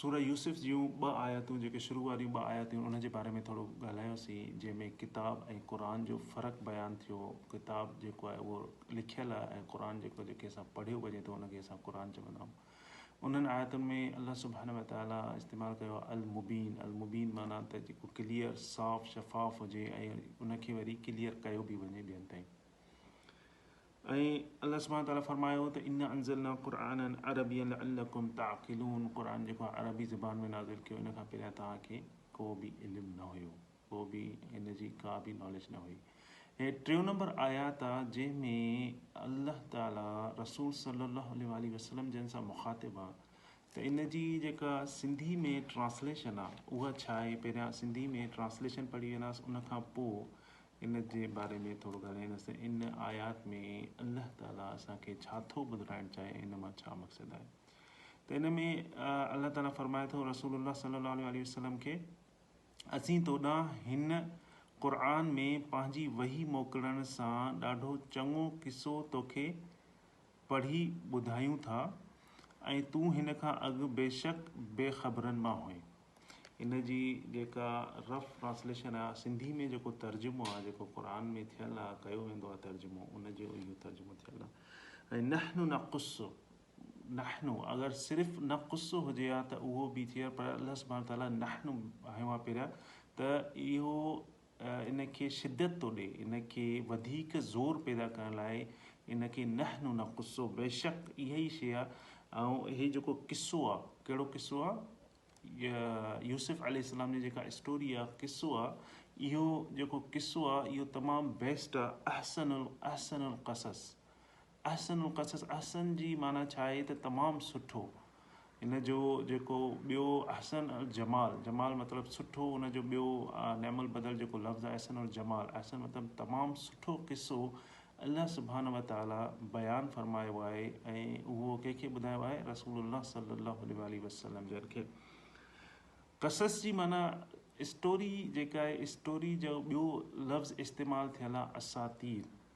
سوره يوسف جون ٻه آياتون جيڪي شروع واريون ٻه آياتون ان جي باري ۾ ٿورو ڳالهايوسين جنهن ۾ ڪتاب ۽ قرآن جو فرق بيان ٿيو ڪتاب جيڪو آهي اهو لکيل آهي ۽ قرآن جيڪو جنهن کي اسان پڙهيو وڃي ٿو ان کي اسان قرآن چوندا آهيون انهن آياتن ۾ الله سبحانه وتعاليٰ استعمال ڪيو آهي المبين المبين معنيٰ ته جيڪو ڪليئر صاف شفاف هجي ۽ ان کي وري ڪليئر ڪيو به وڃي ٻين تائين ۽ الله سبحانه وتعاليٰ فرمايو ته انا انزلنا قرآنا عربيا لعلڪم تعقلون قرآن جيڪو آهي عربي زبان ۾ نازل ڪيو ان کان پهريان توهان کي ڪو به علم نه هيو ڪو به ان جي ڪا به ناليج نه هئي هي ٽيون نمبر آيات آ جنهن ۾ الله تعاليٰ رسول صلي الله عليه وآله وسلم جن سان مخاطب آ ته ان جي جيڪا سنڌي ۾ ٽرانسليشن آ اها ڇا آهي پهريان سنڌي ۾ ٽرانسليشن پڙهي ويناس ان کان پوء ان جي باري ۾ ٿورو ڳالهائيندس ته ان آيات ۾ الله تعالي اسان کي ڇا ٿو ٻڌرائڻ چاهي ۽ ان مان ڇا مقصد آهي ته ان ۾ الله تعالي فرمائي ٿو رسول الله صلي الله عليه وآله وسلم کي اسين توڏانهن هن قرآن ۾ پنهنجي وحي موڪلڻ سان ڏاڍو چڱو قصو توکي پڙهي ٻڌايون ٿا ۽ تون هن کان اڳ بيشڪ بي خبرن مان هئين. ان جي جيڪا رف ٽرانسليشن آ سنڌي ۾ جيڪو ترجمو آ جيڪو قرآن ۾ ٿيل آ ڪيو ويندو آ ترجمو ان جو اهو ترجمو ٿيل آ ۽ نحن نقص نحن اگر صرف نقص هجي ها ته اهو به ٿئي پر الله سبحانه تعاليٰ نحن هيو آ پهريان ته اهو ان کي شدت ٿو ڏئي، ان کي وڌيڪ زور پيدا ڪرڻ لاء ان کي نحن نقص بيشڪ اها ئي شيء ۽ هي جيڪو قصو آ، ڪهڙو قصو آ؟ يوسف عليه السلام جي جيڪا اسٽوري آ، قصو آ، اهو جيڪو قصو آ اهو تمام بيسٽ آ، احسن الاحسن القصص احسن القصص، احسن جي معنيٰ ڇا آهي ته تمام سٺو، ان جو جيڪو ٻيو احسن الجمال، جمال مطلب سٺو، ان جو ٻيو نعم البدل جيڪو لفظ آهي احسن الجمال، احسن مطلب تمام سٺو قصو الله سبحانه وتعاليٰ بيان فرمايو آهي ۽ اهو ڪنهن کي ٻڌايو آهي رسول الله صلي الله عليه واٰله وسلم جن کي قصص جي معنيٰ اسٽوري جيڪا آهي اسٽوري جو ٻيو لفظ استعمال ٿيل آهي اساطير.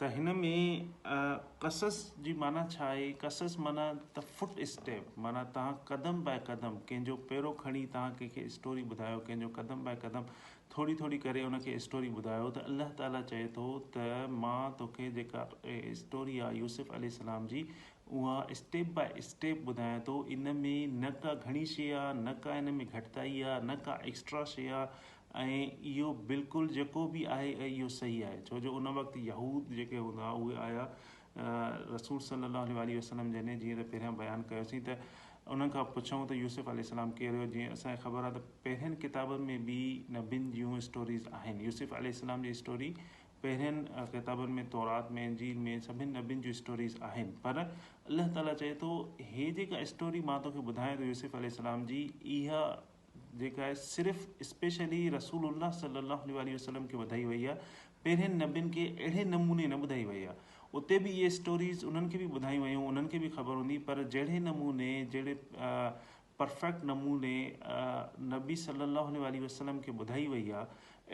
ته هن ۾ قصص جي معنيٰ ڇا آهي؟ قصص معنيٰ ته فٽ اسٽيپ معنيٰ تهان قدم بائي قدم ڪنهن جو پيرو کڻي تهان ڪنهن کي اسٽوري ٻڌايو ڪنهن جو قدم بائي قدم ٿوري ٿوري ڪري ان کي اسٽوري ٻڌايو ته الله تعاليٰ چئي ٿو ته مان توکي جيڪا اسٽوري آهي يوسف عليه السلام جي اها اسٽيپ بائي اسٽيپ ٻڌايان ٿو ان ۾ نه ڪا گهڻي شيء آهي نه ڪا ان ۾ گهٽتائي آهي نه ڪا ايڪسٽرا شيء آهي ۽ اهو بلڪل جيڪو به آهي اهو صحيح آهي ڇو جو ان وقت يهود جيڪي هوندا هئا اهي آيا رسول صلّي الله عليه واٰله وسلّم جني جيئن ته پهريان بيان ڪيوسين ته انهن کان پڇئون ته يوسف عليه السلام ڪير هيو جيئن اسان کي خبر آهي ته پهرين ڪتابن ۾ به نبين جون اسٽوريز آهن يوسف عليه السلام جي اسٽوري پهرين ڪتابن ۾ تورات ۾ انجيل ۾ سڀني نبين جون اسٽوريز آهن پر الله تعالٰي چئي ٿو هي جيڪا اسٽوري مان توکي ٻڌايان ٿو يوسف عليه السلام جي اها جيڪا صرف اسپيشلي رسول الله صلي الله عليه واٰله وسلم کي ٻڌائي وئي آهي پهرين نبين کي اهڙي نموني نه ٻڌائي وئي آهي اتي به اهي اسٽوريز انهن کي به ٻڌايون ويون انهن کي به خبر هوندي پر جهڙي نموني جهڙي پرفيڪٽ نموني نبي صلي الله عليه واٰله وسلم کي ٻڌائي وئي آهي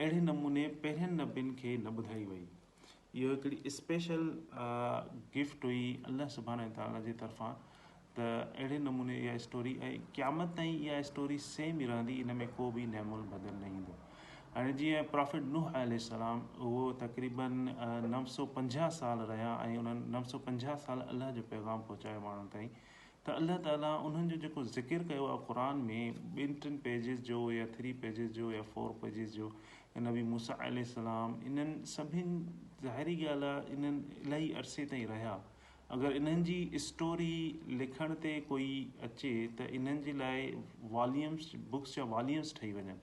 اهڙي نموني پهرين نبين کي نه ٻڌائي وئي اهو هڪڙي اسپيشل گفٽ هئي الله سبحانه وتعاليٰ جي طرفان ته اهڙي نموني اها اسٽوري ۽ قيامت تائين اها اسٽوري سيم ئي رهندي ان ۾ ڪو به نعم البدل نه ايندو هاڻي جيئن پرافيٽ نوح عليه السلام اهو تقريبن نو سو پنجاهه سال رهيا ۽ انهن نو سو پنجاهه سال الله جو پيغام پهچايو ماڻهن تائين ته الله تعالي انهن جو جيڪو ذڪر ڪيو آهي قرآن ۾ ٻن ٽن پيجز جو يا ٿري پيجز جو يا فور پيجز جو ۽ نبي موسيٰ عليه السلام انهن سڀن ظاهري ڳالهه آهي انهن الائي عرصي تائين رهيا اگر انهن جي اسٽوري لکڻ تي ڪوئي اچي ته انهن جي لاء واليمس بڪس جا واليمس ٺهي وڃن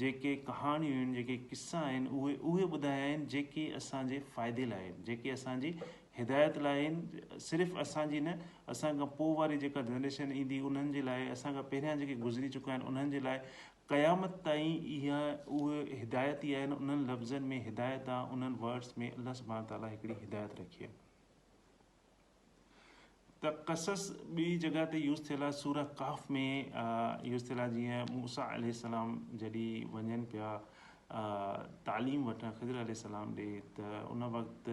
جيڪي ڪهاڻيون آهن، جيڪي قصا آهن، اهي اهي ٻڌايا آهن، جيڪي اسان جي فائدي لاء آهن، جيڪي اسان جي هدايت لاء آهن، صرف اسان جي نه، اسان کان پوء واري جيڪا جنريشن ايندي انهن جي لاء، اسان کان پهريان جيڪي گذري چڪا آهن انهن جي لاء، قيامت تائين اها اهي هدايت ئي آهن، انهن لفظن ۾ هدايت آ، انهن Words ۾ الله سبحانه تعاليٰ هڪڙي هدايت رکي آ. ته قصص ٻي جڳهه تي يوز ٿيل آهي سوره ڪهف ۾ يوز ٿيل آهي جيئن موسيٰ عليه السلام جڏي وڃن پيا تعليم وٺڻ خضر عليه السلام ڏي ته ان وقت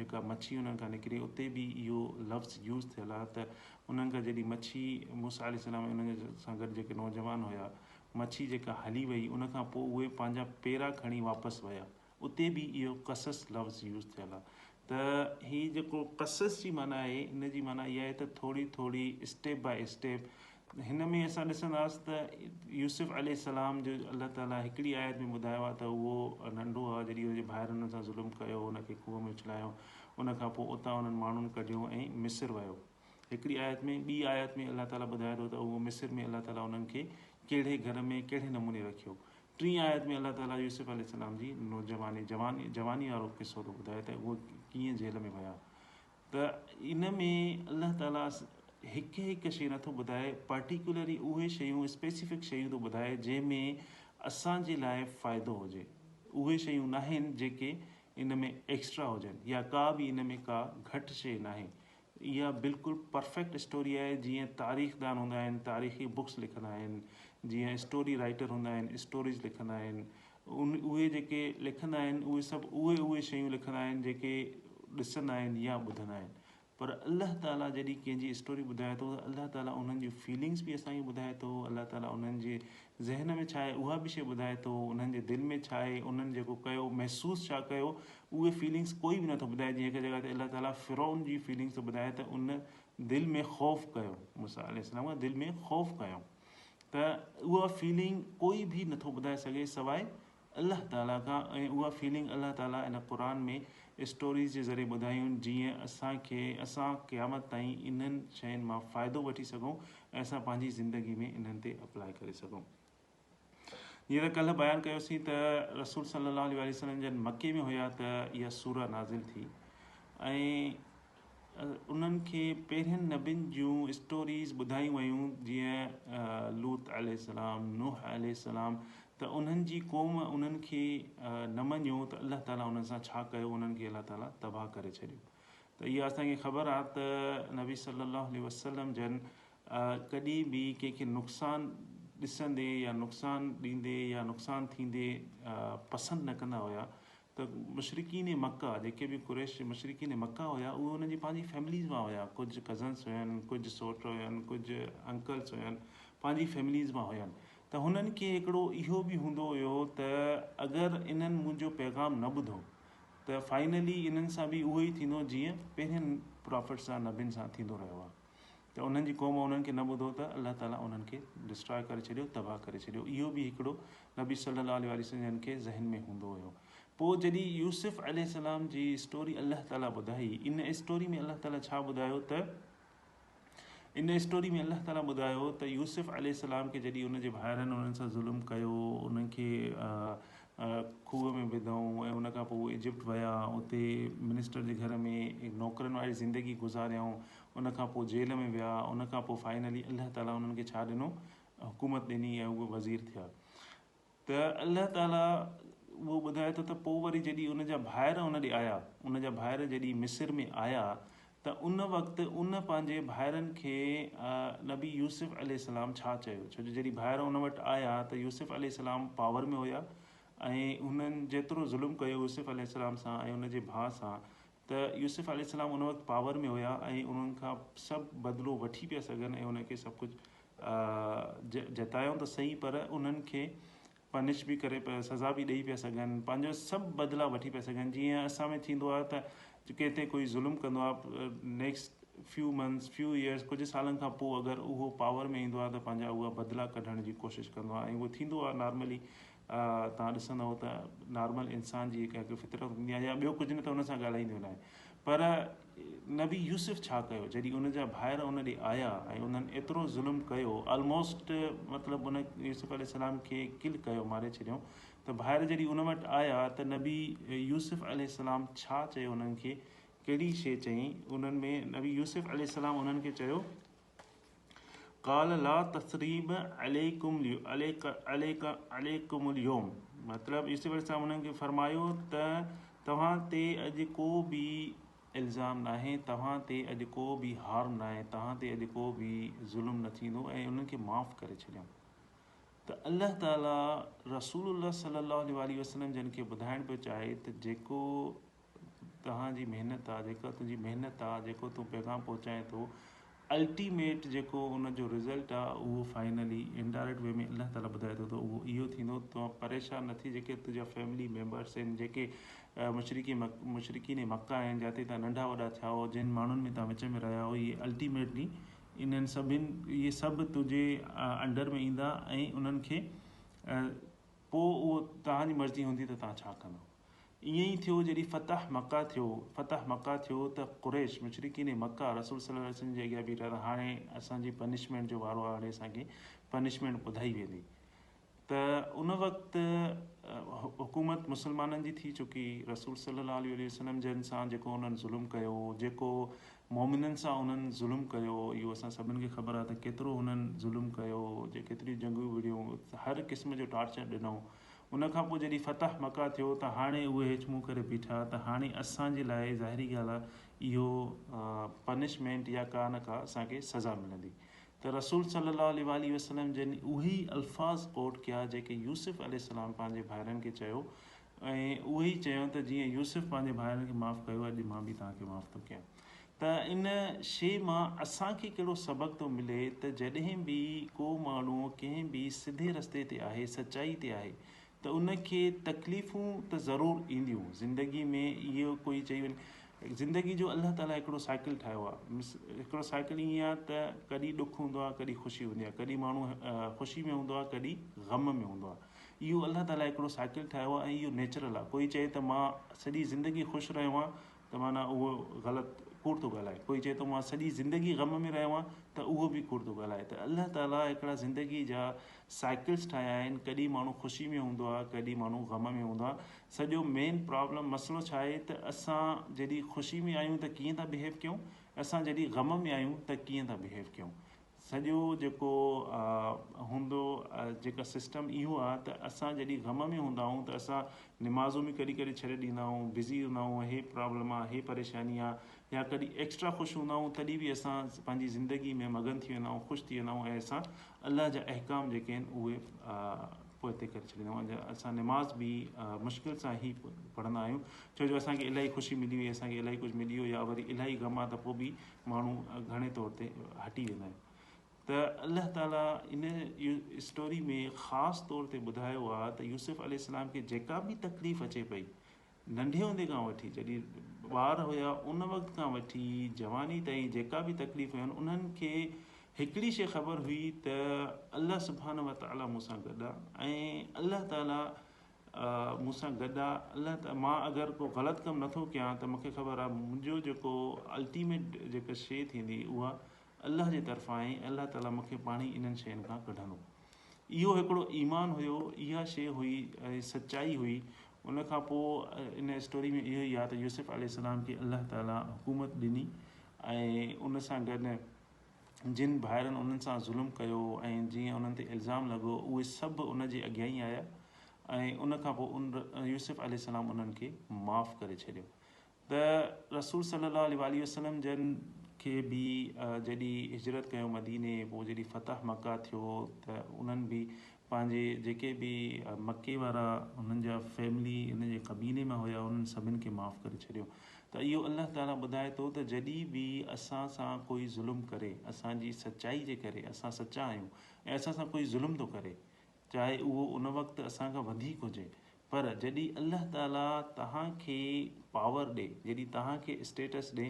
جيڪا مڇي انهن کان نڪري اتي به اهو لفظ يوز ٿيل آهي ته انهن کان جڏي مڇي موسيٰ عليه السلام ۽ انهن سان گڏ جيڪي نوجوان هيا مڇي جيڪا هلي وئي ان کان پوء اهي پنهنجا پيرا کڻي واپس ويا اتي به اهو قصص لفظ يوز ٿيل آ ته هي جيڪو قصص جي معنيٰ آهي ان جي معنيٰ اها آهي ته ٿوري ٿوري اسٽيپ بائي اسٽيپ هن ۾ اسان ڏسنداس ته يوسف عليه السلام جو الله تعالي هڪڙي آيت ۾ ٻڌايو آ ته اهو ننڍو آ جڏهن ان جي ڀائرن ان سان ظلم ڪيو ان کي کوهه ۾ اڇلايو ان کان پوء اتان انهن ماڻهن ڪڍيو ۽ مصر ويو هڪڙي آيت ۾ ٻي آيت ۾ الله تعالي ٻڌائي ٿو ته اهو مصر ۾ الله تعالي انهن کي ڪهڙي گهر ۾ ڪهڙي نموني رکيو. ٽين آيت ۾ الله تعالي يوسف عليه السلام جي نوجواني جواني وارو قصو ٿو ٻڌائي ته اهي ڪيئن جيل ۾ ويا ته ان ۾ الله تعالي هڪ هڪ شيء نٿو ٻڌائي پرٽيڪولري اهي شيون اسپيسفڪ شيون ٿو ٻڌائي جنهن ۾ اسان جي لاء فائدو هجي اهي شيون ناهن جيڪي ان ۾ ايڪسٽرا هجن يا ڪا به ان ۾ ڪا گهٽ شيء ناهي اها بلڪل پرفيڪٽ اسٽوري آهي جيئن تاريخ دان هوندا آهن تاريخي بڪس لکندا آهن جيئن اسٽوري رائيٽر هوندا آهن اسٽوريز لکندا آهن ان اهي جيڪي لکندا آهن اهي سڀ اهي اهي شيون لکندا آهن جيڪي ڏسندا آهن يا ٻڌندا آهن پر الله تعالي جڏهن ڪنهن جي اسٽوري ٻڌائي ٿو ته الله تعالي انهن جون فيلنگس به اسان کي ٻڌائي ٿو الله تعالي انهن جي ذهن ۾ ڇا آهي اها به شيء ٻڌائي ٿو انهن جي دل ۾ ڇا آهي انهن جيڪو ڪيو محسوس ڇا ڪيو اهي فيلنگس ڪوئي به نٿو ٻڌائي جيئن هڪ جڳهه تي الله تعالي فرعون جي فيلنگس ٿو ٻڌائي ته ان دل ۾ خوف ڪيو موسيٰ عليه السلام کان دل ۾ خوف ڪيو ته اها فيلنگ ڪوئي به نٿو ٻڌائي سگهي سواء الله تعالي کان ۽ اها فيلنگ الله تعالي ان قرآن ۾ اسٽوريز جي ذريعي ٻڌايون جيئن اسان کي اسان قيامت تائين انهن شين مان فائدو وٺي سگهون ۽ اسان پنهنجي زندگي ۾ انهن تي اپلائي ڪري سگهون جيئن ته ڪلهه بيان ڪيوسين ته رسول صلي الله عليه وسلم جن مڪي ۾ هيا ته اها سوره نازل ٿي ۽ انهن کي پهرين نبين جون اسٽوريز ٻڌايون ويون جيئن لوط عليه السلام، نوح عليه السلام ته انهن جي قوم انهن کي نه مڃيو ته الله تعالي انهن سان ڇا ڪيو انهن کي الله تعالي تباهه ڪري ڇڏيو ته اها اسان کي خبر آهي ته نبي صلي الله عليه وسلم جن ڪڏي به ڪنهن کي نقصان ڏسندي يا نقصان ڏيندي يا نقصان ٿيندي پسند نه ڪندا هيا ته مشرڪين مڪه جيڪي به قريش مشرڪين مڪه هيا اهي انهن جي پنهنجي فيمليز مان هيا ڪجهه ڪزنس هين ڪجهه سوٽ هين ڪجهه انڪلس هين پنهنجي فيمليز مان هين ته هنن کي هڪڙو اهو به هوندو هيو ته اگر انهن منهنجو پيغام نه ٻڌو ته فائنلي انهن سان به اهو ئي ٿيندو جيئن پهرين پرافٽس سان نبين سان ٿيندو رهيو آهي. ته انهن جي قوم انهن کي نه ٻڌو ته الله تعالي انهن کي Destroy ڪري ڇڏيو تباهه ڪري ڇڏيو اهو به هڪڙو نبي صلي الله عليه وسلم جن کي ذهن ۾ هوندو هيو پوء جڏهن يوسف عليه السلام جي اسٽوري الله تعالي ٻڌائي ان اسٽوري ۾ الله تعالي ڇا ٻڌايو ته ان اسٽوري ۾ الله تعالي ٻڌايو ته يوسف عليه السلام کي جڏهن ان جي ڀائرن انهن سان ظلم ڪيو انهن کي کوهه ۾ وڌائون ۽ ان کان پوء ايجپٽ ويا اتي منسٽر جي گهر ۾ نوڪرن واري زندگي گذاريائون ان کان پوء جيل ۾ ويا ان کان پوء فائنلي الله تعالي انهن کي ڇا ڏنو حڪومت ڏني ۽ اهي وزير ٿيا ته الله تعالي اهو ٻڌائي ٿو ته پوء وري جڏهن ان جا ڀائر ان ڏي آيا ان جا ڀائر جڏهن مصر ۾ آيا ته ان وقت ان پنهنجي ڀائرن کي نبي يوسف عليه السلام ڇا چيو ڇو جو جڏهن ڀائر ان وٽ آيا ته يوسف عليه السلام پاور ۾ هيا ۽ هنن جيترو ظلم ڪيو يوسف عليه السلام سان ۽ ان جي ڀاء سان ته يوسف عليه السلام ان وقت پاور ۾ هيا ۽ انهن کان سڀ بدلو وٺي پيا سگهن ۽ انهن کي سڀ ڪجهه جتايائون ته سهي پر انهن کي پنش به ڪري پيا سزا به ڏيئي پيا سگهن پنهنجو سڀ بدلا وٺي پيا سگهن جيئن اسان ۾ ٿيندو آهي ته ڪنهن تي ڪوئي ظلم ڪندو آهي next few months few years ڪجهه سالن کان پوء اگر اهو پاور ۾ ايندو آهي ته پنهنجا اها بدلا ڪڍڻ جي ڪوشش ڪندو آهي ۽ اهو ٿيندو آهي نارملي توهان ڏسندئو ته نارمل انسان جي هڪ فطرت هوندي آهي يا ٻيو ڪجهه نه ته ان سان ڳالهائيندي هن آهي پر نبي يوسف ڇا ڪيو جڏهن ان جا ڀائر ان ڏي آيا ۽ انهن ايترو ظلم ڪيو آلموسٽ مطلب ان يوسف عليه السلام کي ڪل ڪيو ماري ڇڏيو ته ڀائر جڏهن ان وٽ آيا ته نبي يوسف عليه السلام ڇا چيو انهن کي ڪهڙي شي چئي انهن ۾ نبي يوسف عليه السلام انهن کي چيو قال لا تثريب عليڪم عليڪم اليوم مطلب عيسو عليه السلام انهن کي فرمايو ته توهان تي اڄ ڪو به الزام ناهي توهان تي اڄ ڪو به هارم ناهي توهان تي اڄ ڪو به ظلم نه ٿيندو ۽ انهن کي معاف ڪري ڇڏيم ته الله تعالي رسول الله صلي الله عليه وسلم جن کي ٻڌائڻ پيو چاهي ته جيڪو توهان جي محنت آ جيڪا تنهنجي محنت آ جيڪو تون پيغام پهچائين ٿو الٽيميٽ جيڪو ان جو رزلٽ آ اهو فائنلي انڊائريڪٽ وي ۾ الله تعالي ٻڌائي ٿو ته اهو اهو ٿيندو توهان پريشان نه ٿي جيڪي تنهنجا فيملي ميمبرس آهن جيڪي مشرقي مشرقين مڪه آهن جاتي تان ننڍا وڏا ٿيا هو جن ماڻهن ۾ تان وچ ۾ رهيا هو اهي الٽيميٽلي انهن سڀن اهي سڀ تنهنجي انڊر ۾ ايندا ۽ انهن کي پوء اهو توهان جي مرضي هوندي ته توهان ڇا ڪندو ائين ئي ٿيو جڏهن فتح مڪه ٿيو فتح مڪه ٿيو ته قريش، مشرڪين مڪه، رسول صلي الله عليه وسلم جي اڳيان بيٺا ته هاڻي اسان جي پنشمينٽ جو وارو آهي هاڻي اسان کي پنشمينٽ ٻڌائي ويندي ته ان وقت حڪومت مسلمانن جي ٿي چڪي رسول صلي الله عليه وسلم جن سان جيڪو انهن ظلم ڪيو جيڪو مومنن سان انهن ظلم ڪيو اهو اسان سڀن کي خبر آهي ته ڪيترو انهن ظلم ڪيو جي ڪيتريون جنگيون وڙهيون هر قسم جو ٽارچر ڏنو ان کان پوء جڏهن فتح مڪه ٿيو ته هاڻي اهي هيچ منهن ڪري بيٺا ته هاڻي اسان جي لاء ظاهري ڳالهه آهي اهو پنشمينٽ يا ڪا نه ڪا اسان کي سزا ملندي ته رسول صلي الله عليه واٰله وسلم جن اهي ئي الفاظ ڪوٽ ڪيا جيڪي يوسف عليه السلام پنهنجي ڀائرن کي چيو ۽ اهي ئي چيو ته جيئن يوسف پنهنجي ڀائرن کي معاف ڪيو اڄ مان به توهان کي معاف ٿو ڪيان. ته ان شيء مان اسان کي ڪهڙو سبق ٿو ملي ته جڏهن به ڪو ماڻهو ڪنهن به سڌي رستي تي آهي، سچائي تي آهي ته ان کي تڪليفون ته ضرور اينديون زندگي ۾ اهو ڪوئي چئي وڃي زندگي جو الله تعاليٰ هڪڙو سائيڪل ٺاهيو آهي هڪڙو سائيڪل ائين آهي ته ڪڏهن ڏک هوندو آهي ڪڏهن خوشي هوندي آهي ڪڏهن ماڻهو خوشي ۾ هوندو آهي ڪڏهن غم ۾ هوندو آهي اهو الله تعاليٰ هڪڙو سائيڪل ٺاهيو آهي ۽ اهو نيچرل آهي ڪوئي چئي ته مان سڄي زندگي خوش رهيو آهيان ته معنيٰ اهو غلط، ڪوڙ ٿو ڳالهائي. ڪوئي چئي ٿو مان سڄي زندگي غم ۾ رهيو آهيان ته اهو به ڪوڙ ٿو ڳالهائي. ته الله تعاليٰ هڪڙا زندگي جا سائيڪلز ٺاهيا آهن، ڪڏهن ماڻهو خوشي ۾ هوندو آهي، ڪڏهن ماڻهو غم ۾ هوندو آهي. سڄو مين پرابلم مسئلو ڇا آهي ته اسان جڏهن خوشي ۾ آهيون ته ڪيئن ٿا بهيو ڪيون ۽ اسان جڏهن غم ۾ آهيون ته ڪيئن ٿا بهيو ڪيون. سڄو جيڪو هوندو جيڪا سسٽم اهو آ ته اسان جڏهن غم ۾ هوندا آهون ته اسان نمازون به ڪڏهن ڪڏهن ڇڏي ڏيندا آهون بزي هوندا آهون هي پرابلم آ هي پريشاني آ يا ڪڏهن ايڪسٽرا خوش هوندا آهون تڏهن به اسان پنهنجي زندگي ۾ مگن ٿي ويندا آهون خوش ٿي ويندا آهون ۽ اسان الله جا احڪام جيڪي آهن اهي پوئتي ڪري ڇڏيندا آهون اسان نماز به مشڪل سان هي پڙهندا آهيون ڇو جو اسانکي الاهي خوشي ملي وئي اسانکي الاهي ڪجهه ملي ويو يا وري الاهي غم آ ته پوء به ماڻهو گهڻي طور تي هٽي ويندا آهن ته الله تعالي ان اسٽوري ۾ خاص طور تي ٻڌايو آهي ته يوسف عليه السلام کي جيڪا به تڪليف اچي پئي ننڍي هوندي کان وٺي جڏهن ٻار هيا ان وقت کان وٺي جواني تائين جيڪا به تڪليف هيون انهن کي هڪڙي شيء خبر هئي ته الله سبحانه وتعالي مون سان گڏ آهي ۽ الله تعالي مون سان گڏ آ الله ته مان اگر ڪو غلط ڪم نٿو ڪيان ته مونکي خبر آ منهنجو جيڪو الٽيميٽ جيڪا شي ٿيندي اها الله جي طرفان آهي الله تعالي مونکي پاڻهي انهن شين کان ڪڍندو اهو هڪڙو ايمان هيو اها شي هئي ۽ سچائي هئي ان کان پوء ان اسٽوري ۾ اهو ئي آ ته يوسف عليه السلام کي الله تعالي حڪومت ڏني ۽ ان سان گڏ جن ڀائرن انهن سان ظلم ڪيو ۽ جيئن انهن تي الزام لڳو، اهي سڀ ان جي اڳيائين آيا ۽ ان کان پوء ان، يوسف عليه السلام، انهن کي معاف ڪري ڇڏيو ته رسول صلّي الله عليه واٰله وسلّم جن کي به جڏهن هجرت ڪيو مديني پوء جڏهن فتح مڪه ٿيو ته انهن به پنهنجي جيڪي به مڪي وارا هنن جا فيملي هن جي قبيلي مان هيا انهن سڀن کي معاف ڪري ڇڏيو ته اهو الله تعالي ٻڌائي ٿو ته جڏهن به اسان سان ڪوئي ظلم ڪري اسان جي سچائي جي ڪري اسان سچا آهيون ۽ اسان سان ڪوئي ظلم ٿو ڪري چاهي اهو ان وقت اسان کان وڌيڪ هجي پر جڏهن الله تعاليٰ توهان کي پاور ڏي، جڏهن توهان کي اسٽيٽس ڏي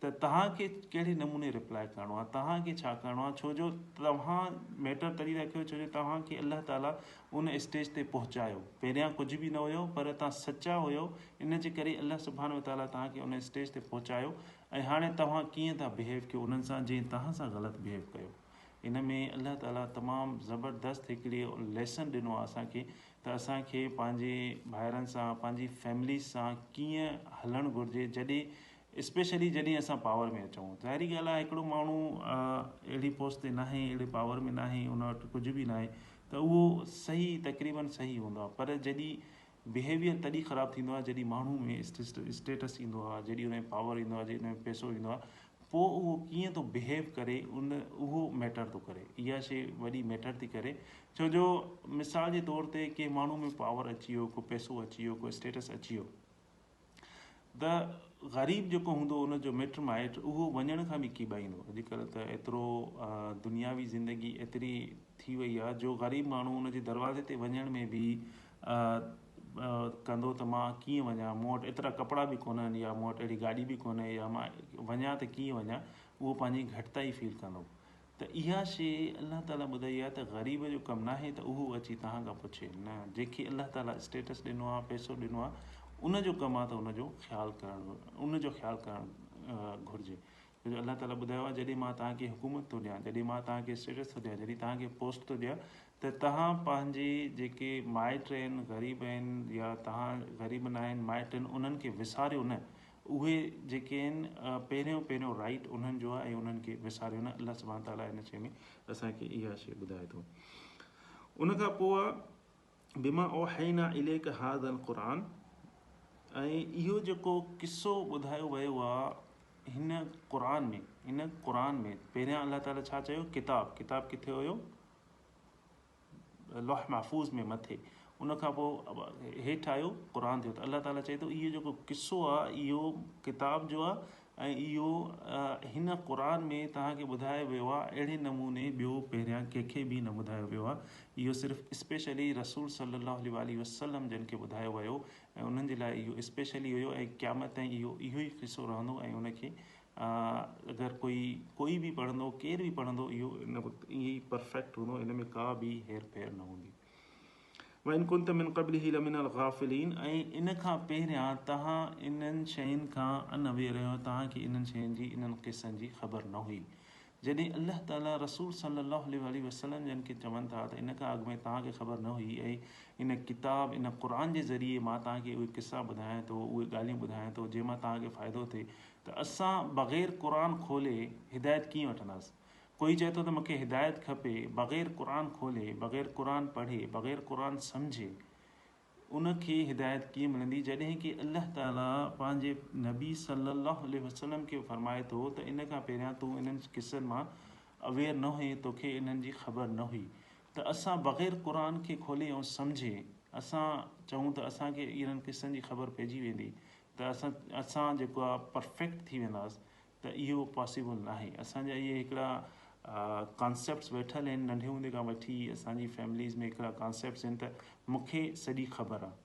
ته توهان کي ڪهڙي نموني ريپلائي ڪرڻو آهي، توهان کي ڇا ڪرڻو آهي ڇو جو توهان ميٽر تڏهن ٿا ڪيو ڇو جو توهان کي الله تعاليٰ ان اسٽيج تي پهچايو، پهريان ڪجهه به نه هيو پر توهان سچا هيو ان جي ڪري الله سبحانه وتعاليٰ توهان کي ان اسٽيج تي پهچايو ۽ هاڻي توهان ڪيئن ٿا بهيو ڪيو انهن سان جنهن توهان سان غلط بهيو ڪيو. ان ۾ الله تعاليٰ تمام زبردست هڪڙي ليسن ڏنو آهي اسان کي ته اسان کي پنهنجي ڀائرن سان پنهنجي فيمليز سان ڪيئن هلڻ گهرجي جڏهن اسپيشلي جڏهن اسان پاور ۾ اچون ظاهري ڳالهه آهي هڪڙو ماڻهو اهڙي پوسٽ تي ناهي اهڙي پاور ۾ ناهي ان وٽ ڪجهه به ناهي ته اهو صحيح تقريبن صحيح هوندو آهي پر جڏهن بهيويئر تڏهن خراب ٿيندو آهي جڏهن ماڻهو ۾ اسٽيٽس ايندو آهي جڏهن ان ۾ پاور ايندو آهي جڏهن ان ۾ پئسو ايندو آهي پوء اهو ڪيئن ٿو بهيو ڪري ان اهو ميٽر ٿو ڪري اها شي وڏي ميٽر ٿي ڪري ڇو جو مثال جي طور تي ڪنهن ماڻهو ۾ پاور اچي ويو ڪو پئسو اچي ويو ڪو اسٽيٽس اچي ويو ته غريب جيڪو هوندو ان جو مٽ مائٽ اهو وڃڻ کان به ڪيٻائيندو اڄڪلهه ته ايترو دنياوي زندگي ايتري ٿي وئي آهي جو غريب ماڻهو ان جي دروازي تي وڃڻ ۾ به ڪندو ته مان ڪيئن وڃان، مون وٽ ايترا ڪپڙا به ڪونهن يا مون وٽ اهڙي گاڏي به ڪونهي يا مان وڃان ته ڪيئن وڃان اهو پنهنجي گهٽتائي فيل ڪندو ته اها شي الله تعالي ٻڌائي آهي ته غريب جو ڪم ناهي ته اهو اچي توهان کان پڇي نه جنهنکي الله تعالي اسٽيٽس ڏنو آهي پئسو ڏنو آهي ان جو ڪم آهي ته ان جو خيال ڪرڻ ان جو خيال ڪرڻ گهرجي ڇو جو الله تعاليٰ ٻڌايو آهي جڏهن مان توهان کي حڪومت ٿو ڏيان، جڏهن مان توهان کي اسٽيٽس ٿو ڏيان، جڏهن توهان کي پوسٽ ٿو ڏيان ته توهان پنهنجي جيڪي مائٽ آهن غريب آهن يا توهان غريب نه آهن مائٽ آهن انهن کي وساريو نه اهي جيڪي آهن پهريون پهريون رائيٽ انهن جو آهي ۽ انهن کي وساريو نه الله سبحانه تعاليٰ هن شيء ۾ اسان کي اها شيء ٻڌائي ٿو ان کان پوء بما اوحينا اليک هذا القرآن ۽ اهو جيڪو قصو ٻڌايو ويو آ هن قرآن ۾ هن قرآن ۾ پهريان الله تعالي ڇا چيو ڪتاب ڪتاب ڪٿي هيو لوح محفوظ ۾ مٿي ان کان پوء هيٺ آيو قرآن ٿيو ته الله تعالي چئي ٿو اهو جيڪو قصو آ اهو ڪتاب جو آ ۽ اهو هن قرآن ۾ توهان کي ٻڌايو ويو آهي اهڙي نموني ٻيو پهريان ڪنهن کي به نه ٻڌايو ويو آهي اهو صرف اسپيشلي رسول صلّي الله عليه واٰله وسلّم جن کي ٻڌايو ويو ۽ انهن جي لاء اهو اسپيشلي هيو ۽ قيامت تائين اهو اهو ئي قصو رهندو ۽ ان کي اگر ڪوئي ڪوئي به پڙهندو ڪير به پڙهندو اهو ان وقت ائين ئي پرفيڪٽ هوندو ان ۾ ڪا به هير ڦير نه هوندي وان ڪنت من قبله لمن الغافلين ۽ ان کان پهريان توهان انهن شين کان ان اوير رهيو توهان کي انهن شين جي انهن قصن جي خبر نه هئي جڏهن الله تعالي رسول صلي الله عليه واٰله وسلم جن کي چون ٿا ته ان کان اڳ ۾ توهان کي خبر نه هئي ۽ ان ڪتاب ان قرآن جي ذريعي مان توهان کي اهي قصا ٻڌايان ٿو اهي ڳالهيون ٻڌايان ٿو جنهن مان توهان کي فائدو ٿئي ته اسان بغير قرآن کولي هدايت ڪيئن وٺنداسين ڪوئي چئي ٿو ته مونکي هدايت کپي بغير قرآن کولي بغير قرآن پڙهي بغير قرآن سمجهي ان کي هدايت ڪيئن ملندي جڏهن ڪي الله تعالي پنهنجي نبي صلي الله عليه وسلم کي فرمائي ٿو ته ان کان پهريان تون انهن قصن مان اويئر نه هئين توکي انهن جي خبر نه هئي ته اسان بغير قرآن کي کولي ۽ سمجهي اسان چئون ته اسان کي انهن قصن جي خبر پئجي ويندي ته اسان جيڪو آ پرفيڪٽ ٿي وينداس ته اهو پاسيبل ناهي اسان جا اهي هڪڙا ڪانسيپٽس ويٺل آهن ننڍي هوندي کان وٺي اسان جي فيمليز ۾ هڪڙا ڪانسيپٽس آهن ته مونکي سڄي خبر آهي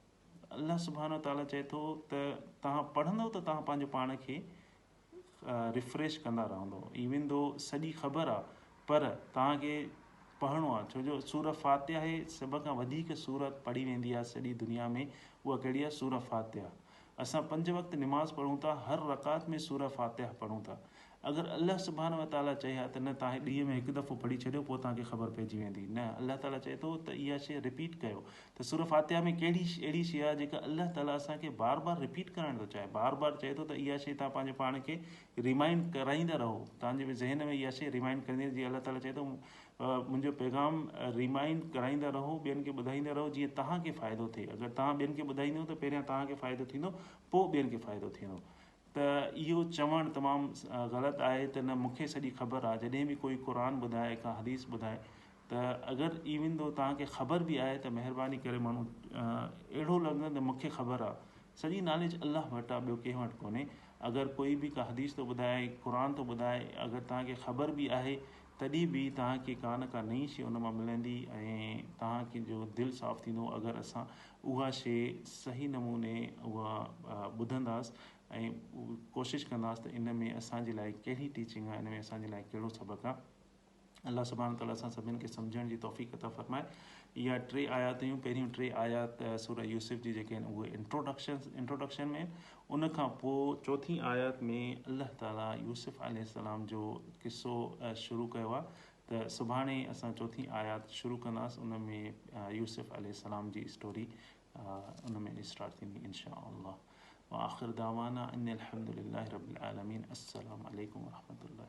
الله سبحان و تعالٰي چئي ٿو ته تهان پڙهندو ته تهان پنهنجو پاڻ کي ريفريش ڪندا رهندو ايون دو سڄي خبر آهي پر تهان کي پڙهڻو آهي ڇو جو سور فاتحه سڀ کان وڌيڪ سورت پڙهي ويندي آهي سڄي دنيا ۾ اها ڪهڙي آهي سور فاتحه اسان پنج وقت نماز پڙهون ٿا هر رڪعت ۾ سوره فاتحه پڙهون ٿا اگر الله سبحانه وتعاليٰ چئي ها ته نه تهان ڏينهن ۾ هڪ دفعو پڙهي ڇڏيو پوء توهان کي خبر پئجي ويندي نه الله تعاليٰ چئي ٿو ته اها شيء رپيٽ ڪيو ته سوره فاتحه ۾ ڪهڙي اهڙي شيء آهي جيڪا الله تعاليٰ اسان کي بار بار رپيٽ ڪرائڻ ٿو چاهي بار بار چئي ٿو ته اها شيء توهان پنهنجي پاڻ کي ريمائنڊ ڪرائيندا رهو توهان جي ذهن ۾ اها شيء ريمائنڊ ڪرندي جي الله تعاليٰ چئي ٿو منهنجو پيغام ريمائينڊ ڪرائيندا رهو ٻين کي ٻڌائيندا رهو جيئن توهان کي فائدو ٿئي اگر توهان ٻين کي ٻڌائيندو ته پهريان توهان کي فائدو ٿيندو پوء ٻين کي فائدو ٿيندو ته اهو چوڻ تمام غلط آهي ته نه مونکي سڄي خبر آهي جڏهن به ڪوئي قرآن ٻڌائي ڪا حديث ٻڌائي ته اگر ايون دو توهان کي خبر به آهي ته مهرباني ڪري ماڻهو اهڙو لڳندو ته مونکي خبر آهي سڄي نالج الله وٽ آهي ٻيو ڪنهن وٽ ڪونهي اگر ڪوئي به ڪا حديث ٿو ٻڌائي قرآن ٿو ٻڌائي اگر توهان کي خبر به آهي تڏهن به توهان کي ڪا نه ڪا نئين شيء ان مان ملندي ۽ توهان کي جو دل صاف ٿيندو اگر اسان اها شيء صحيح نموني اها ٻڌنداس ۽ ڪوشش ڪنداس ته ان ۾ اسان جي لاء ڪهڙي ٽيچنگ آ ان ۾ اسان جي لاء ڪهڙو سبق آ الله سبحانه وتعالي اسان سڀني کي سمجهڻ جي توفيق عطا فرمائي اها ٽي آيات هيون پهريون ٽي آيات سوره يوسف جي جيڪي آهن اهي انٽروڊڪشن انٽروڊڪشن ۾ ان کان پوء چوٿين آيت ۾ الله تعالي يوسف عليه السلام جو قصو شروع ڪيو آهي ته سڀاڻي اسان چوٿين آيات شروع ڪنداس ان ۾ يوسف عليه السلام جي اسٽوري ان ۾ اسٽارٽ ٿيندي ان شاء الله واخر دعوانا ان الحمد لله رب العالمين السلام عليڪم ورحمة الله.